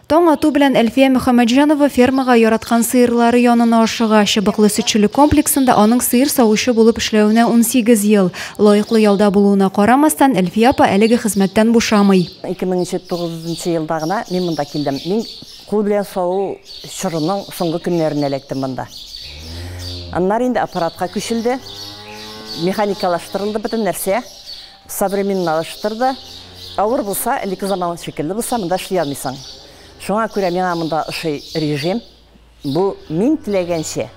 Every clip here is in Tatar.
Таң ату белән Әлфия Мөхәммәтҗанова фермага яраткан сыерлары янына ашыга. Чыбыклы сөтчелек комплексында аның сыер савучы булып эшләвенә 18 ел. Лаеклы ялда булуына карамастан, Әлфия апа әлеге хезмәттән бушамый. 2009 елда гына мин монда килдем. Мин кул белән саву чорының соңгы көннәрендә эләктем монда. Аннары инде аппаратка күчелде, механикалаштырылды бөтен нәрсә. Современналаштыр да. Авыр булса, элекке заман шикелле булса, монда эшли алмыйсың. Шуңа күрә миңа монда ошый режим. Бу мин теләгәнчә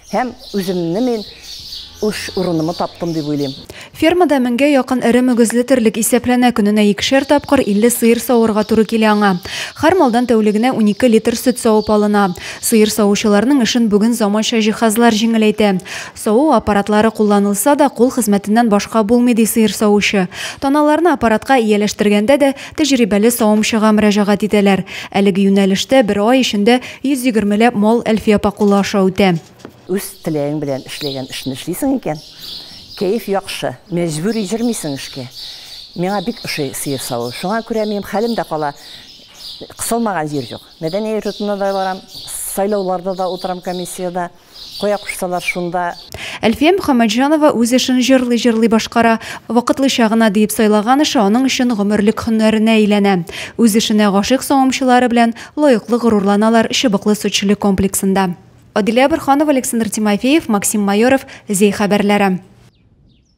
һәм үземне мин үз урынымны таптым дип уйлыйм. Фермада меңгә якын эре мөгезле терлек исәпләнә, көненә икешәр тапкыр 50 сыер савырга туры килә аңа. Һәр малдан тәүлегенә унике литр сөт савып алына. Сыер савучыларның эшен бүген заманча җиһазлар җиңеләйтә. Саву аппаратлары кулланылса да, кул хезмәтеннән башка булмый, ди сыер савучы. Таналарны аппаратка ияләштергәндә дә тәҗрибәле савымчыга мөрәҗәгать итәләр. Әлеге юнәлештә бер ай эчендә 120 ләп мал Әлфия апа кулы аша үтә. Үз теләгең белән эшләгән эшне эшлисең икән, кәеф яхшы, мәҗбүри йөрмисең эшкә. Миңа бик ошый сыер саву. Шуңа күрә минем хәлем дә кала, кысылмаган җир юк. Мәдәния йортына да барам, сайлауларда да утырам комиссиядә. Кая кушсалар, шунда. Әлфия Мөхәммәтҗанова үз эшен җырлый-җырлый башкара. Вакытлыча гына диеп сайлаган эше аның өчен гомерлек һөнәренә әйләнә. Үз эшенә гашыйк савымчылары белән лаеклы горурланалар Чыбыклы сөтчелек комплексында. Адилә Борһанова, Александр Тимофеев, Максим Майоров, Зәй хәбәрләре.